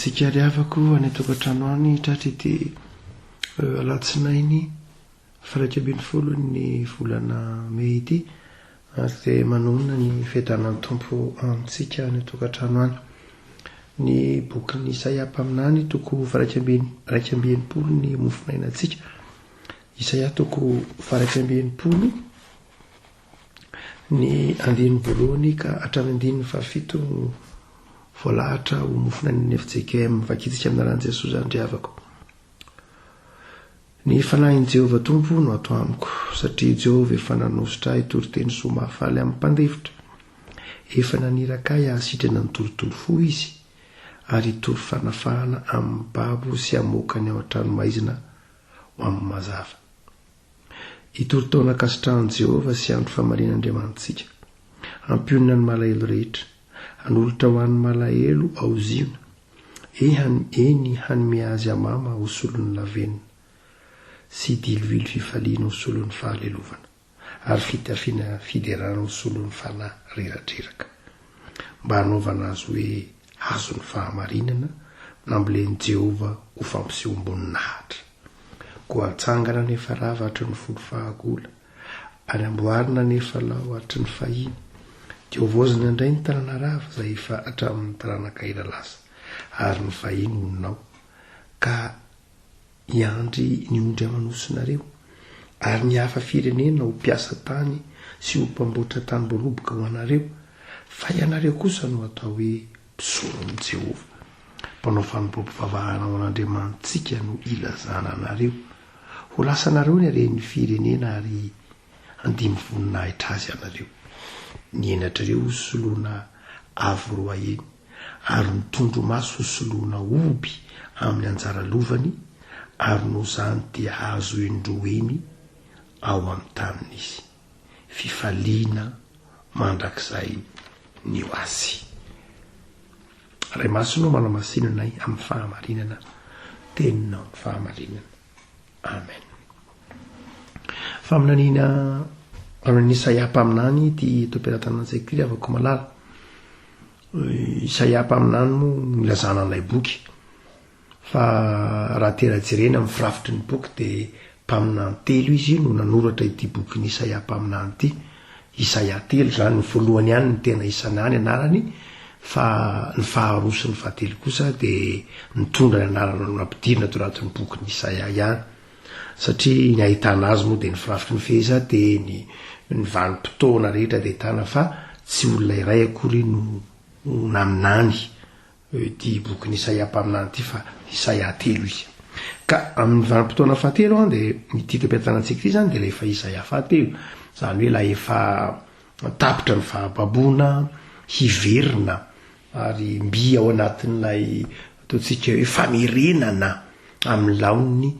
tsika ry havako any an-tokantrano any tratra ity alatsinainy Firaika ambin'ny folo ny volana mey ity ary dia manonona ny fiadanan'ny Tompo amintsika any an-tokantrano any. Ny bokin'i Isaia mpaminany, toko firaika amby iraika amby enimpolo ny mofonainantsika. Isaia toko firaika amby enimpolo ny andininy voalohany ka hatramin'ny andininy fahafito voalahatra ho mofonainan'ny FJKM. Vakintsika amin'ny anaran'i Jesoa izany ry havako. Ny fanahin'i Jehovah Tompo no ato amiko, satria i Jehovah efa nanositra ahy hitory teny soa mahafaly amin'ny mpandefitra. Efa naniraka ahy hahasitrana ny torotoro fo izy, ary hitory fanafahana amin'ny babo sy hamoaka ny ao an-tranomaizina ho amin'ny mazava. Hitory taona ankasitrahan'i Jehovah sy andro famalian'Andriamanitsika. Hampionona ny malahelo rehetra. Hanolotra ho an'ny malahelo ao Ziona, ehany eny hanome azy hamama ho solon'ny lavenona, sy diloilo fifaliana ho solon'ny fahalelovana, ary fitafiana fiderana ho solon'ny fanahy reradreraka, mba hanaovana azy hoe hazon'ny fahamarinana nambolen'i Jehovah ho fampisehoam-boninahitra. Koa hatsangana any Efarava hatry ny folo fahagola. ary amboarina anefa lao hatry ny fahiny, dia hovaozina indray ny tanana rava izay efa hatramin' ny taranaka ela lasa, ary ny vahiny honina ao, ka hiandry ny ondry aman'osinareo, ary ny hafa firenena ho mpiasa tany sy ho mpamboatra tany voaloboka ho anareo, fa ianareo kosa no hatao hoe mpisoron'i Jehovah, mpanao fanompoam-pivavahana ho an'Andriamanitsika no ilazana anareo. Ho lasanareo ny haren'ny firenena ary handimby voninahitra azy ianareo. Ny henatrareo ho soloina avo roa heny, ary ny tondromaso ho soloina omby amin'ny anjara lovany, ary noho izany dia hahazo heny roa heny ao amin'ny taniny izy. fifaliana mandrakizay ny ho azy. Ray Masina o, manamasina anay amin'ny fahamarinana teninao, ny fahamarinana. Amen. Faminaniana amin'ny Isaia mpaminany ity toperantanan'ny sekoly avako malala. Isaia mpaminany moa nilazana an'ilay boky. Fa raha tena jerena amin'ny firafitry ny boky dia mpaminany telo izy no nanoratra ity bokin'i Isaia mpaminany ity. Isaia telo izany, ny voalohany ihany no tena isana ny anarany fa ny faharoa sy ny fahatelo kosa dia mitondra ny anarana noampidirina teo anatin'ny bokin'i Isaia ihany. Satria ny ahitana azy moa dia ny firafitry ny fehezany dia ny ny vanim-potoana rehetra dia ahitana fa tsy olona iray akory no naminany Eo ity bokin'i Isaia mpaminany ity fa Isaia telo izy. Ka amin'ny vanim-potoana fahatelo an, dia ity tepetranantsika ity izany dia ilay efa Isaia fahatelo. Izany hoe ilay efa tapitra ny fahababoana, hiverina ary mby ao anatin'ilay ataontsika hoe famerenana amin'ny laoniny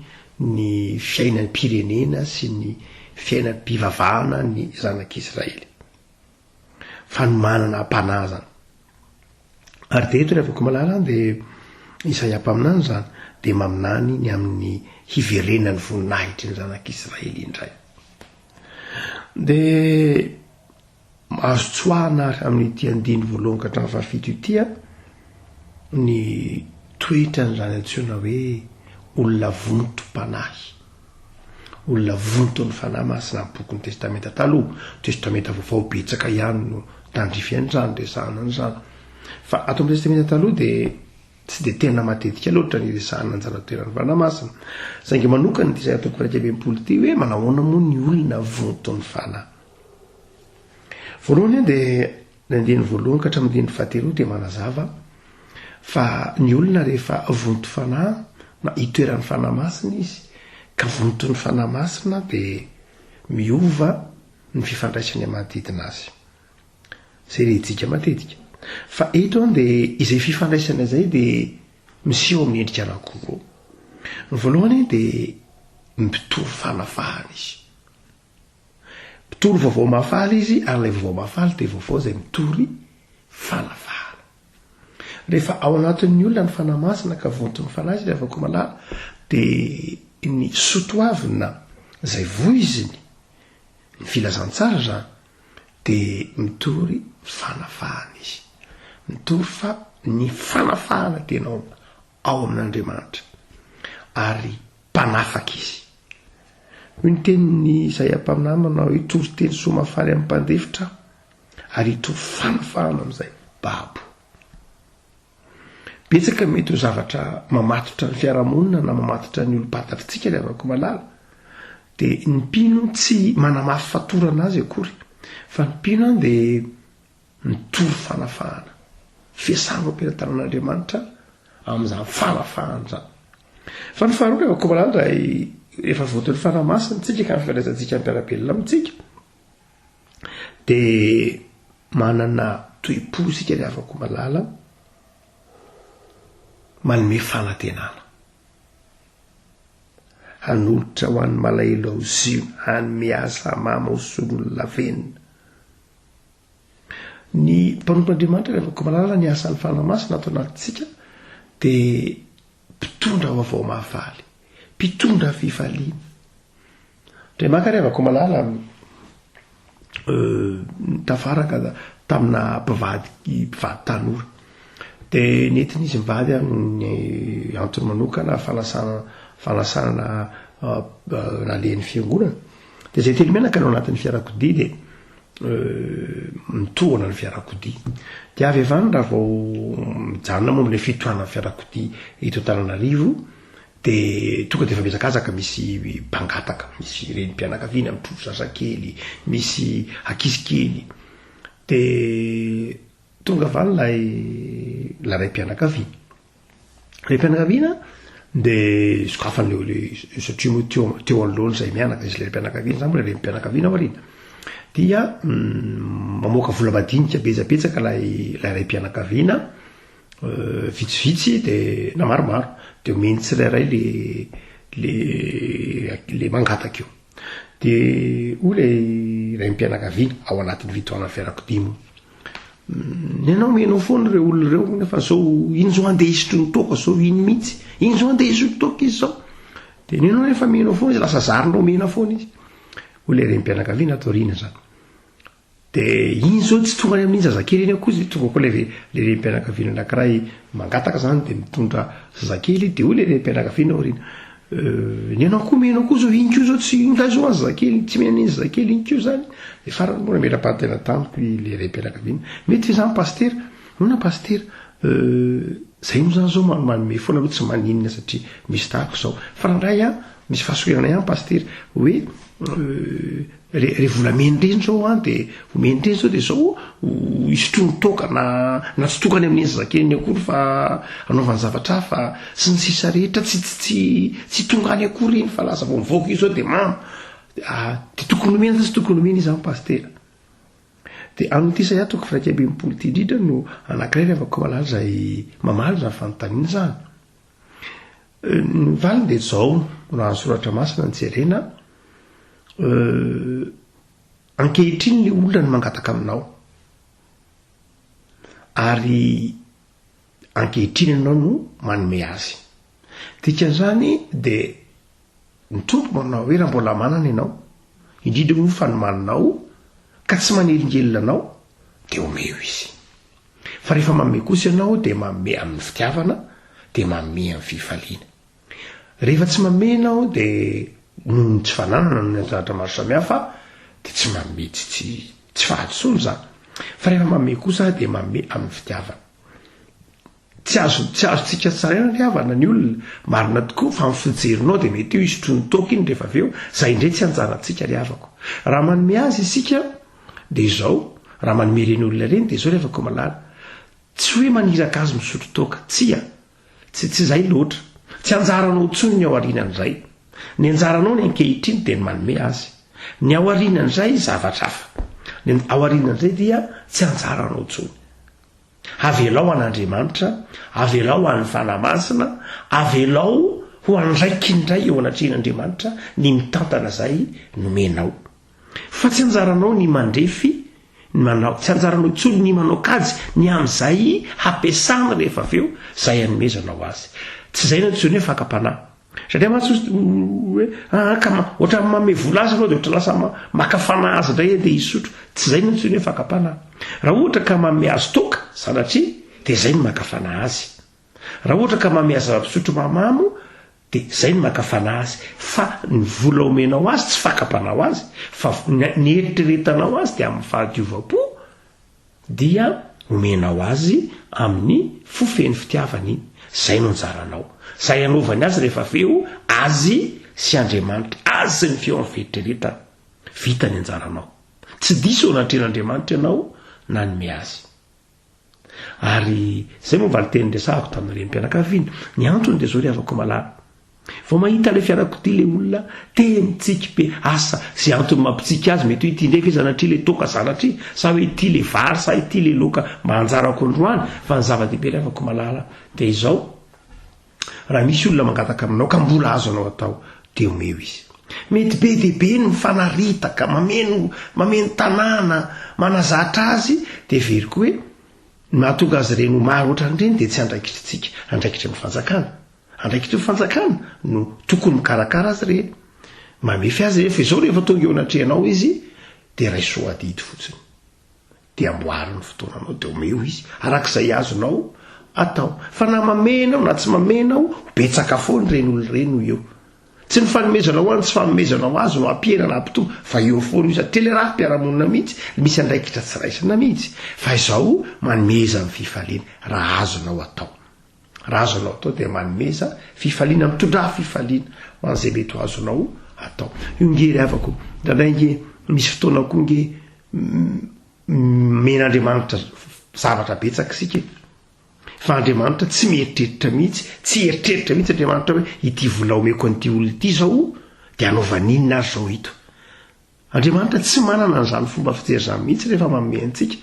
ny fiainam-pirenena sy ny fiainam-pivavahana ny zanak'Israely. fanomanana am-panahy izany. Ary dia eto ny afaka malala an, dia Isaia mpaminany izany dia maminany ny amin'ny hiverenan'ny voninahitry ny zanak'Israely indray. Dia azo tsoahana ary amin'ity andiny voalohany ka hatramin'ny fahafito ity a ny toetra an'izany antsoina hoe olona vontom-panahy Olona vonton'ny Fanahy Masina amin'ny bokin'ny Testamenta Taloha, Testamenta Vaovao betsaka ihany no tandrify an'izany, resahana an'izany. Fa ato amin'ny Testamenta Taloha dia tsy dia tena matetika loatra ny resahana ny zana-toeran'ny Fanahy Masina. Saingy manokana ity izay toko iraika amby enimpolo ity hoe manahoana moa ny olona vonton'ny Fanahy. Voalohany dia Ny andininy voalohany ka hatramin'ny andininy fahatelo dia manazava fa ny olona rehefa vonto fanahy na itoeran'ny Fanahy Masina izy ka vonton'ny Fanahy Masina dia miova ny fifandraisany amin'ny manodidina azy. Izay rehitsika matetika. Fa eto dia izay fifandraisana izay dia miseho amin'ny endrika anankiroa. Ny voalohany dia mitovy fanavahana izy. Mpitory vaovao mahafaly izy ary ilay vaovao mahafaly dia vaovao izay mitory fanavahana. Rehefa ao anatin'ny olona ny Fanahy Masina ka vonton'ny Fanahy izy ry havako malala dia ny sotoavina izay voiziny ny filazantsara izany dia mitory fanavahana izy. Mitory fa ny fanafahana dia naomba ao amin'Andriamanitra ary mpanafaka izy. Hoy ny tenin'i Isaia mpaminahy manao, Hitory teny soa mahafaly amin'ny mpandefitra aho, ary hitory fanafahana amin'izay babo. Betsaka mety ho zavatra mamatotra ny fiarahamonina na mamatotra ny olom-pantatritsika ry havako malala, dia ny mpino tsy manamafy fatorana azy akory, fa ny mpino dia Mitory fanafahana. Fiasana ho am-pelantanan'Andriamanitra amin'izany fanafahana izany. Fa ny faharoa, rehefa komanana indray, rehefa voatory ny Fanahy Masina antsika ka fifandraisantsika am-piarabelona amintsika, dia manana toe-po isika ry havako malala, manome fanantenana. Hanolotra ho an'ny malahelo aho zio, hanome ahy samama ho solon'ny lavenona. Ny mpanompon'Andriamanitra dia afaka mahalala ny asan'ny Fanahy Masina ato anatintsika dia mpitondra vaovao mahavaly, mpitondra fifaliana. Dia maka ary avako malala tafaraka tamina mpivady mpivady tanora. Dia nentin'izy mivady amin'ny antony manokana fanasana fanasana nalehan'ny fiangonana. Dia zay telo menaka no anatin'ny fiarakodia dia mitohana ny fiarakodia. Dia avy avany raha vao mijanona momba ilay fitohanan'ny fiarakodia eto Antananarivo dia tonga dia efa mihazakazaka misy mpangataka, misy renim-pianakaviana mitrovy zazakely, misy ankizy kely. Dia tonga avy any ilay ilay raim-pianakaviana. Ilay mpianakaviana dia sokafany ilay satria moa teo teo anoloany izay mianaka izy ilay mpianakaviana izany mbola ilay mpianakaviana aoriana dia mm, mamoaka vola madinika betsabetsaka ilay ilay ray mpianakaviana euh, vitsivitsy dia na maromaro dia omeny tsirairay le le le mangataka io Dia hoy ilay raim-pianakaviana ao anatin'ny fitohanan'ny fiarakodia moa. Ny anao menao foana ireo olona ireo hoy fa zao iny zao andeha hisotro ny toaka zao iny mihitsy. Iny zao andeha hisotro toaka izy zao. Dia ny anao rehefa menao foana izy lasa zarinao mena foana izy. Hoy ilay raim-pianakaviana ato aoriana izany. De iny zao tsy tonga any amin'iny zazakely iny akory zay tonga ko le re le renim-pianakaviana anakiray mangataka zany de mitondra zazakely de hoy le renim-pianakaviana aoriana euh ny anao ko me anao ko zao iny ko zao tsy ingahy zao any zazakely tsy me an'iny zazakely iny ko zany de farany moa namela-pahantena tamiko i le renim-pianakaviana mety ve zany pasitera nahoana pasitera euh zay moa zany zao ma- manome foana aloha tsy maninona satria misy tahako zao fa raha ndray an misy fahasorenana ihany pasitera hoe euh Re, re volameny reny zao an de omeny reny zao de zao hisotroany toaka na na tsy tokany amin'iny zazakeliny akory fa anaovany zavatra hafa sy ny sisa rehetra tsy tsy tsy tsy tonga any akory iny fa lasa vao mivaoka iny zao de mamo ah, de tokony omeny zao tsy tokony omeny izy an pastera de amin'ity saya toko firaika ambin'ny polo ity indrindra no anankiray ravakao malala izay mamaly izany fanontaniana izany Ny valiny dia izao, raha ny soratra masina no jerena, ankehitriny ilay olona no mangataka aminao, ary ankehitriny ianao no manome azy. Dikan'izany dia ny tompo manao hoe raha mbola manana ianao, indrindra moa fa ny maninao ka tsy manelingelina anao dia omeo izy. Fa rehefa manome kosa ianao dia manome amin'ny fitiavana, dia manome amin'ny fifaliana. Rehefa tsy manome ianao dia noho ny tsy fananana, noho ny anton'Atra maro samihafa, dia tsy manome, tsy tsy tsy fahadisoana izany. Fa rehefa manome kosa Aho dia manome amin'ny fitiavana. Tsy azo tsy azontsika tsaraina ny havana ny olona, marina tokoa, fa ny fijerinao dia mety io hisotroany toaka iny rehefa avy eo, izay indray tsy hanjanantsika ry havako. Raha manome azy isika, Dia izao, raha manome ireny olona ireny, dia izao ry Afakomalala, tsy hoe maniraka azy misotro toaka, tsia, tsy tsy izay loatra, tsy anjaranao intsony ny ao aoriana indray, ny anjaranao ny ankehitriny dia ny manome azy, ny ao aoriana indray zavatra hafa, ny ao aoriana indray dia tsy anjaranao intsony. Avelao an'Andriamanitra, avelao ho an'ny Fanahy Masina, avelao ho andraikiny indray eo anatrehan'Andriamanitra ny mitantana izay nomenao. Fa tsy anjaranao ny mandrefy ny manao, tsy anjaranao intsony ny manao kajy ny amin'izay hampiasany rehefa avy eo izay anomezanao azy. Tsy izay no antsoin'ny hoe fakam-panahy. Satria mantsy hozy hoe, aa ka ohatran'ny manome vola azy ianao dia ohatra lasa maka fanahy azy indray andeha hisotro. Tsy izay no antsoin'ny hoe fakam-panahy. Raha ohatra ka manome azy toaka sanatria dia izay no maka fanahy azy. Raha ohatra ka mameha zava-pisotro mahamamo dia izay no mankafana azy fa ny vola omenao azy tsy fakapanao azy fa ny eritreretanao azy dia amin'ny fahadiovam-po dia omenao azy amin'ny fo feno fitiavana iny. Izay no anjaranao. Izay anaovany azy rehefa avy eo azy sy Andriamanitra, azy sy ny feon'ny fieritreretany. Vita ny anjaranao. Tsy diso eo anatrehan'Andriamanitra ianao nanome azy. Ary izay moa valinteny niresahako tamin'ny renim-pianakaviana. Ny antony dia izao ry havako malala. Vao mahita ilay fiarakodia ilay olona, te mitsiky be. Asa, izay antony mampitsiky azy, mety hoe ity indray ve zanatria ilay toaka zanatria, sa hoe ity ilay vary, sa ity ilay laoka mba anjarako androany, fa ny zava-dehibe ry havako malala dia izao, Raha misy olona mangataka aminao ka mbola azonao atao dia omeo izy. Mety be dia be ny mifanaritaka, mameno mameno tanàna, manazatra azy dia heveriko hoe ny mahatonga azy ireny ho maro ohatran'ireny dia tsy andraikitr'tsika, andraikitry ny fanjakana. Andraikitry ny fanjakana no tokony mikarakara azy ireny, mamefy azy ireny fa izao rehefa tonga eo anatrehanao izy dia raiso adidy fotsiny. Dia amboary ny fotoananao dia omeo izy araka izay azonao atao. Fa na mamehy ianao na tsy mamehy ianao, ho betsaka foana ireny olona ireny ho eo. Tsy ny fanomezanao ho azy ny tsy fanomezanao ho azy no hampihena na hampitombo fa eo foana io sady tena rafi-piarahamonina mihitsy no misy andraikitra tsy raisina mihitsy. Fa izao manomeza ny fifaliana raha azonao atao. Raha azonao atao dia manomeza fifaliana, mitondrà fifaliana ho an'izay mety ho azonao atao. Io nge ry havako, indraindray nge misy fotoana koa nge Omen'Andriamanitra zavatra betsaka isika e. Fa Andriamanitra tsy mieritreritra mihitsy, tsy eritreritra mihitsy Andriamanitra hoe ity vola omeko an'ity olona ity izao dia anaovany inona ary izao ito. Andriamanitra tsy manana an'izany fomba fijery izany mihitsy rehefa manome antsika.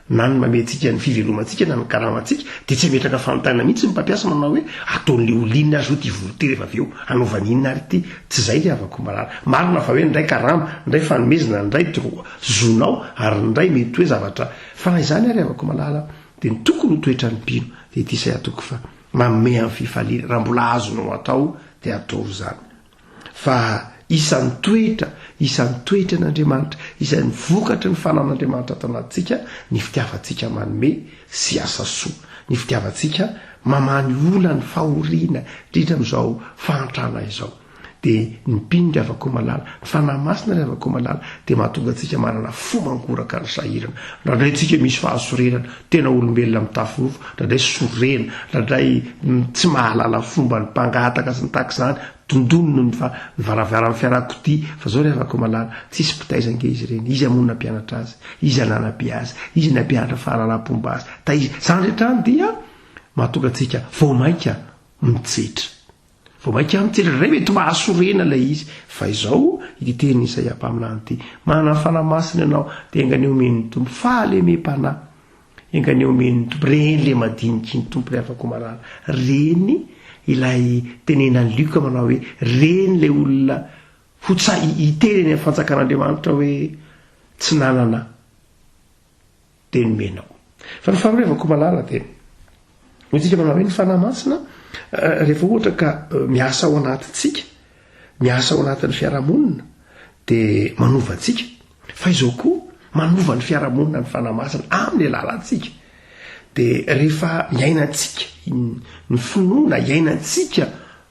Na ny manome antsika ny fivelomantsika na ny karamantsika dia tsy ametraka fanontaniana mihitsy ny mpampiasa manao hoe ataon'ilay olona inona ary izao ity vola ity rehefa avy eo, anaovany inona ary ity. Tsy izay ny havako marary. Marina fa hoe ndray karama, ndray fanomezana, ndray droit, zonao, ary ndray mety hoe zavatra, fa na izany ary havako malala, dia ny tokony ho toetran'ny mpino, dia ity izay ataoko fa, manome amin'ny fifaliana, raha mbola azonao atao, dia atoro izany. Fa isan'ny toetra, isan'ny toetry an'Andriamanitra, isan'ny vokatry ny fanan'Andriamanitra ato anatintsika, ny fitiavantsika manome, sy asa soa. Ny fitiavantsika Mamany ola ny fahoriana indrindra amin'izao fahantrana izao. Dia ny mpino ry havako malala, ny Fanahy Masina ry havako malala dia mahatonga antsika manana fo mangoraka ny sahirana. Ndraindray tsika misy fahasorenana, tena olombelona mitafy nofo, ndraindray sorena, ndraindray tsy mahalala fomba ny mpangataka sy ny tahaka izany, dondonina ny varavaran'ny fiarakodia, fa izao ry havako malala, tsisy mpitaiza ange izy ireny, iza moa nampianatra azy? Iza nanabe azy? Iza nampianatra fahalalam-pomba azy? Da izany rehetra any dia mahatonga antsika vao mainka mitsetra. Vao mainka mitsetra indray mety mahasorena ilay izy. Fa izao ity teny Isaia mpaminany ity, Manana fanahy masina ianao, dia enganie omen'ny Tompo fahalemem-panahy. Enganie omen'ny Tompo, reny ilay madiniky ny Tompo ilay afako marary. Reny ilay tenenan'i Luc manao hoe, reny ilay olona ho tsahy hiteny any amin'ny fanjakan'Andriamanitra hoe tsy nanana dia nomenao. Fa ny faharoevako malala dia ho tsika manao hoe ny Fanahy Masina rehefa ohatra ka miasa ao anatintsika, miasa ao anatin'ny fiarahamonina dia manova antsika. Fa izao koa manova ny fiarahamonina ny Fanahy Masina amin'ny alalantsika. Dia rehefa iainantsika ny finoana, iainantsika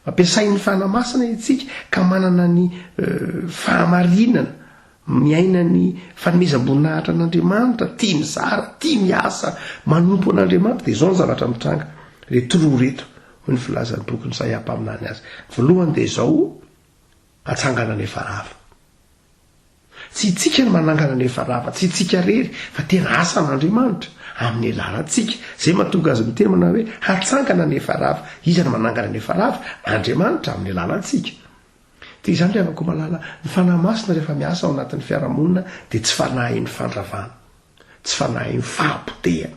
ampiasain'ny Fanahy Masina itsika ka manana ny fahamarinana Miaina ny fanomezam-boninahitra an'Andriamanitra, tia mizara, tia miasa, manompo an'Andriamanitra, dia izao ny zavatra mitranga, le toroha reto, hoy ny filazan'ny bokin'i Isaia mpaminany azy. Voalohany dia izao, atsangana ny efa rava. Tsy itsika ny manangana ny efa rava, tsy itsika rery, fa tena asan'Andriamanitra, amin'ny alalantsika. Izay mahatonga azy miteny manao hoe, hatsangana ny efa rava. Iza no manangana ny efa rava? Andriamanitra, amin'ny alalantsika. Dia izany ry havako malala, ny Fanahy Masina rehefa miasa ao anatin'ny fiarahamonina dia tsy fanahin'ny fandravana, tsy fanahin'ny fahapotehana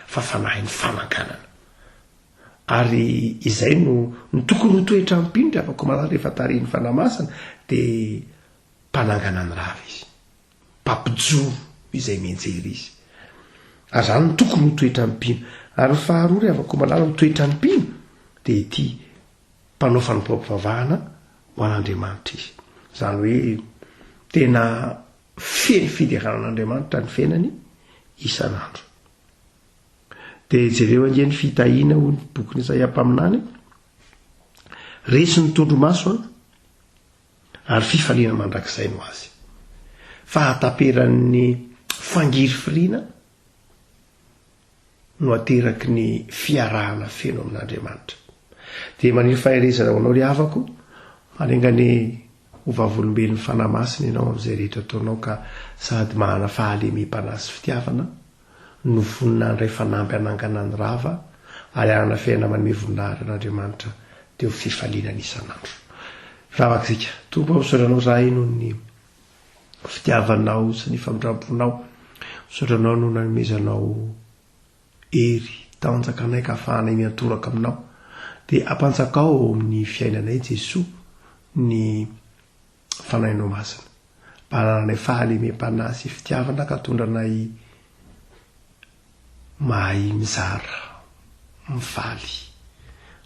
fa fanahin'ny fananganana. Ary izay no no tokony ho toetram-pino ry havako malala rehefa tarihin'ny Fanahy Masina dia mpanangana ny rava izy. mpampijoro izay mianjera izy. Ary izany no tokony ho toetran'ny mpino. Ary ny faharoa ry havako malala ny toetran'ny mpino dia ity, mpanao fanompoam-pivavahana ho an'Andriamanitra izy. Izany hoe tena feno fiderana an'Andriamanitra ny fiainany isan'andro. Dia jereo ange ny fitahiana hoy ny bokin'i Isaia mpaminany, Resy ny tondromaso an, ary fifaliana mandrakizay no azy. Fahataperan'ny fangirifiriana no ateraky ny fiarahana feno amin'Andriamanitra. Dia maniry faherezana ho anao ry havako, manenga ny ho vavolombelon'ny Fanahy Masina ianao amin'izay rehetra ataonao ka sady manana fahalemem-panahy sy fitiavana no vonona handray fanamby hanangana ny rava ary hanafihana manome voninahitra an'Andriamanitra teo fifaliana ny isan'andro. Ravaka isika. Tompo aho misaotra Anao zahay noho ny fitiavanao sy ny famindramponao. Misaotra Anao noho nanomezanao hery tanjaka anay ka afahanay miantoraka aminao. Dia ampanjakao ao amin'ny fiainanay Jesoa ny Fanahy no Masina, mba anananay fahalemem-panahy sy fitiavana ka tondranay mahay mizara, mifaly,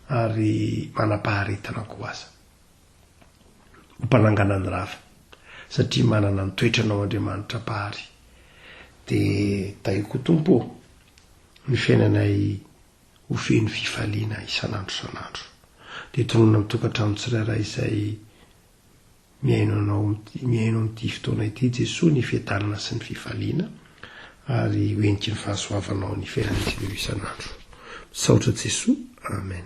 ary manam-paharetana koa aza. Ho mpanangana ny rava, satria manana ny toetranao Andriamanitra Mpahary. Dia tahio koa Tompo ô, ny fiainanay ho feno fifaliana isan'andro isan'andro. Dia tononina amin'ny tokantrano tsirairay izay mihaino anao, mihaino amin'ity fotoana ity Jesoa ny fiadanana sy ny fifaliana ary ho heniky ny fahasoavanao ny fiainantsika ireo isan'andro. Misaotra Jesoa. Amen.